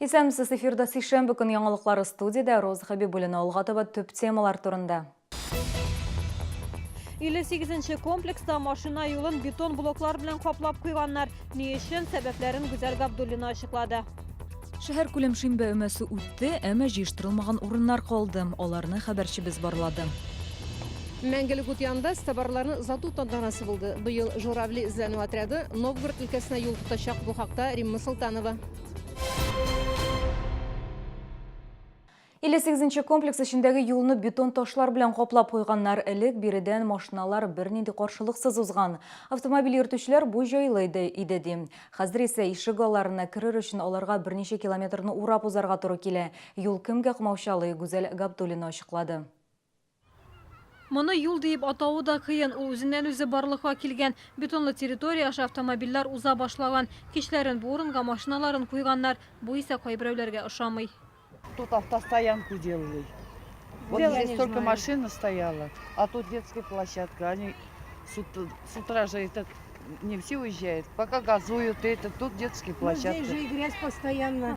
Исәнмесез эфирда сишәмбе көн яңалыклары студиядә Роза Хәбибуллина алга таба төп темалар турында. 58 комплекста машина юлын бетон блоклар белән каплап куйганнар. Ни өчен, сәбәпләрен Гүзәл Габдуллина ачыклады. Шәһәркүләм шимбә өмәсе үтте, әмма җыештырылмаган урыннар калды. Аларны хәбәрчебез барлады. Мәңгелек ут янында стабарларны озату тантанасы булды. Быел Журавли эзләнү отряды Новгород өлкәсенә юл тотачак, бу хакта Римма Солтанова. 58 комплекс эчендәге юлны бетон ташлар белән каплап куйганнар. Элек биредән машиналар бернинди каршылыксыз узган. Автомобиль йөртүчеләр бу җайлы иде, иде ди. Хәзер исә ишек алларына керер өчен аларга берничә километрны урап узарга туры килә. Юл кемгә комаучалый, Гүзәл Габдуллина ачыклады. Моны юл диеп атавы да кыен, ул үзеннән-үзе барлыкка килгән. Бетонлы территория аша автомобильләр уза башлаган. Кичләрен бу урынга машиналарын куйганнар. Бу исә кайберәүләргә ошамый. Тут автостоянку делали. Вот Делали, здесь только знаю. машина стояла, а тут детская площадка. Они с ут- с утра же этот не все уезжают, пока газуют это, тут детские Ну, здесь площадки. же и грязь постоянно.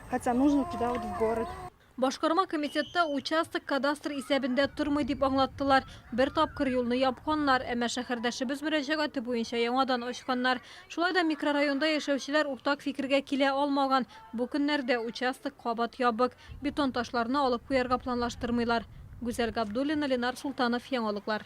Хотя нужно туда вот в город. Башкарма комитетта участок кадастр исәбендә тормый дип аңлаттылар. Бер тапкыр юлны япканнар, әмма шәһәрдәшебез мөрәҗәгате буенча яңадан ачканнар. Шулай да микрорайонда яшәүчеләр уртак фикергә килә алмаган. Бу көннәрдә участок кабат ябык. Бетон ташларны алып куярга планлаштырмыйлар. Гүзәл Габдуллина, Ленар Султанов, Яңалыклар.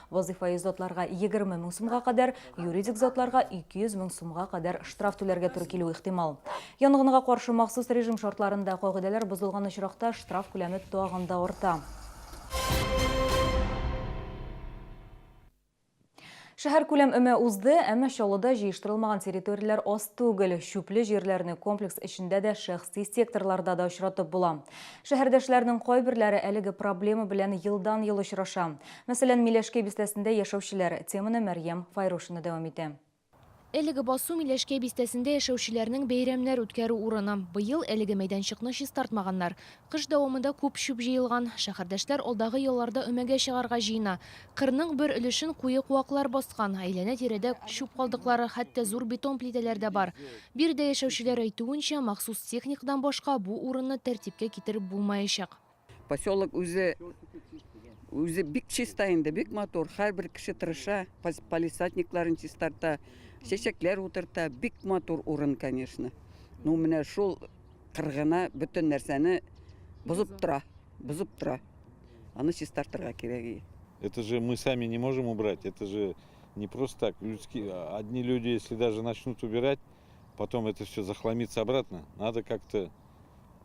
Вазыйфаи затларга 20 мең сумга кадәр, юридик затларга 200 мең сумга кадәр штраф түләргә туры килү ихтимал. Янгынга каршы махсус режим шартларында кагыйдәләр бозылган очракта штраф күләме тагын да арта. Шәһәркүләм өмә узды, әмма Чаллыда җыештырылмаган территорияләр аз түгел. Чүпле җирләрне комплекс эчендә дә, шәхси секторларда да очратып була. Шәһәрдәшләрнең кайберләре әлеге проблема белән елдан-ел очраша. Мәсәлән, Миләшкәй бистәсендә яшәүчеләр, теманы Мәрьям Файрушина дәвам итә. Әлеге басу Миләшкәй бистәсендә яшәүчеләрнең бәйрәмнәр үткәрү урыны. Быел әлеге мәйданчыкны чистартмаганнар. Кыш дәвамында күп чүп җыелган. Шәһәрдәшләр алдагы елларда өмәгә чыгарга җыена. Кырның бер өлешен куе куаклар баскан, әйләнә-тирәдә чүп калдыклары, хәтта зур бетон плитәләр дә бар. Биредә яшәүчеләр әйтүенчә, махсус техникадан башка бу урынны тәртипкә китереп булмаячак. Поселок үзе үзе бик чиста инде, бик матур. Һәрбер кеше тырыша, палисадникларын чистарта, чәчәкләр утырта. Бик матур урын, конечно. Ну, менә шул кыргына бөтен нәрсәне бозып тора, бозып тора. Аны чистартырга кирәк. Это же мы сами не можем убрать, это же не просто так. Людские, одни люди, если даже начнут убирать, потом это все захламится обратно. Надо как-то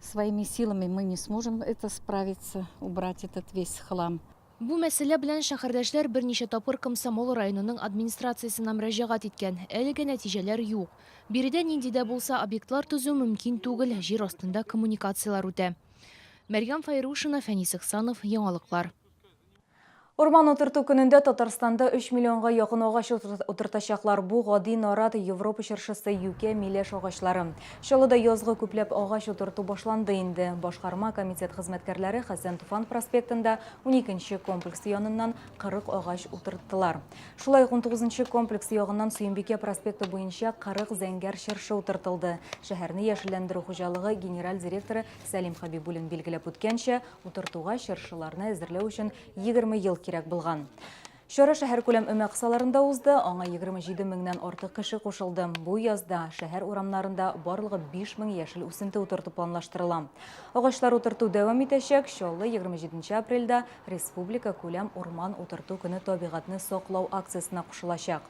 Своими силами мы не сможем это справиться, убрать этот весь хлам. Бу мәсьәлә белән шәһәрдәшләр берничә тапкыр Комсомол районының администрациясенә мөрәҗәгать иткән, әлегә нәтиҗәләр юк. Биредә нинди дә булса объектлар төзү мөмкин түгел, җир астында коммуникацияләр үтә. Мәрьям Файрушина, Фәнис Ихсанов, Яңалыклар. Урман утырту көнендә Татарстанда 3 миллионга якын агач утыртачаклар. Бу гади нарат, Европа чыршысы, юкә, миләш агачлары. Чаллыда язгы күпләп агач утырту башланды инде. Башкарма комитет хезмәткәрләре Хәсән Туфан проспектында уникенче комплекс яныннан 40 агач утырттылар. Шулай ук унтугызынчы комплекс ягыннан Сөембикә проспекты буенча 40 зәңгәр чыршы утыртылды. Шәһәрне яшелләндерү хуҗалыгы генераль директоры Сәлим Хәбибуллин билгеләп үткәнчә, Утыртуга чыршыларны әзерләү өчен 20 ел кирәк булган. Чара шәһәркүләм өмәк саларында узды, аңа 27 меңнән артык кеше кушылды. Бу язда шәһәр урамнарында барлыгы 5 мең яшел үсенте утырту планлаштырыла. Агачлар утырту дәвам итәчәк. Чаллы 27 апрельдә республика күләм урман утырту көне табигатьне саклау акциясенә кушылачак.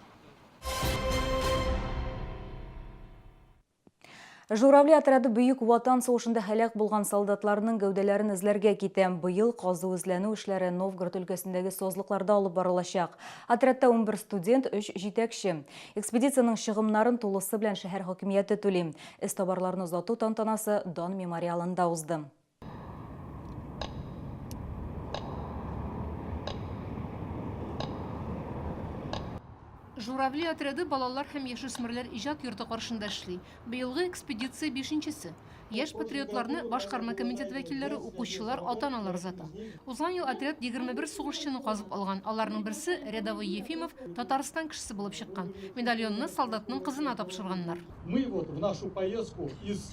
Журавли отряды Бөек Ватан сугышында һәлак булган солдатларның гәүдәләрен эзләргә китә. Быел казу-эзләнү эшләре Новгород өлкәсендәге сазлыкларда алып барылачак. Отрядта 11 студент, 3 җитәкче. Экспедициянең чыгымнарын тулысы белән шәһәр хакимияте түли. Эзтабарларны озату тантанасы Дан мемориалында узды. Журавли отряды балалар һәм яшүсмерләр иҗат йорты каршында эшли. Быелгы экспедиция бишенчесе. Яшь патриотларны башкарма комитет вәкилләре, укучылар, ата-аналар озата. Узган ел отряд 21 сугышчыны казып алган. Аларның берсе, рядовой Ефимов, Татарстан кешесе булып чыккан. Медальонны солдатның кызына тапшырганнар. Мы вот в нашу поездку из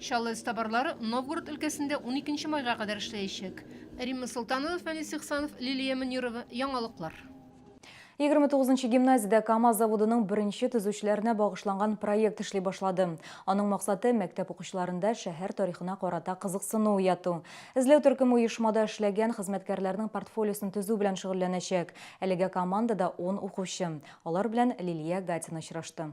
Чаллы эзтабарлары Новгород өлкәсендә уникенче майга кадәр эшләячәк. Римма Солтанова, Фәнис Ихсанов, Лилия Мөнирова, Яңалыклар. Егерме тугызынчы гимназиядә КАМАЗ заводының беренче төзүчеләренә багышланган проект эшли башлады. Аның максаты, мәктәп укучыларында шәһәр тарихына карата кызыксыну уяту. Эзләү төркеме оешмада эшләгән хезмәткәрләрнең портфолиосын төзү белән шөгыльләнәчәк. Әлегә командада ун укучы. Алар белән Лилия Гатина очрашты.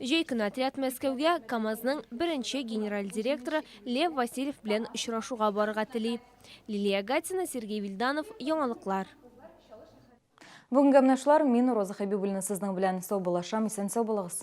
Җәй көне отряд Мәскәүгә КАМАЗның беренче генераль директоры Лев Васильев белән очрашуга барырга тели. Лилия Гатина, Сергей Вильданов, Яңалыклар. Бүгенге гәмнәшләр мин Роза Хәбибуллина сезнең белән саубуллашам, исән сау булыгыз.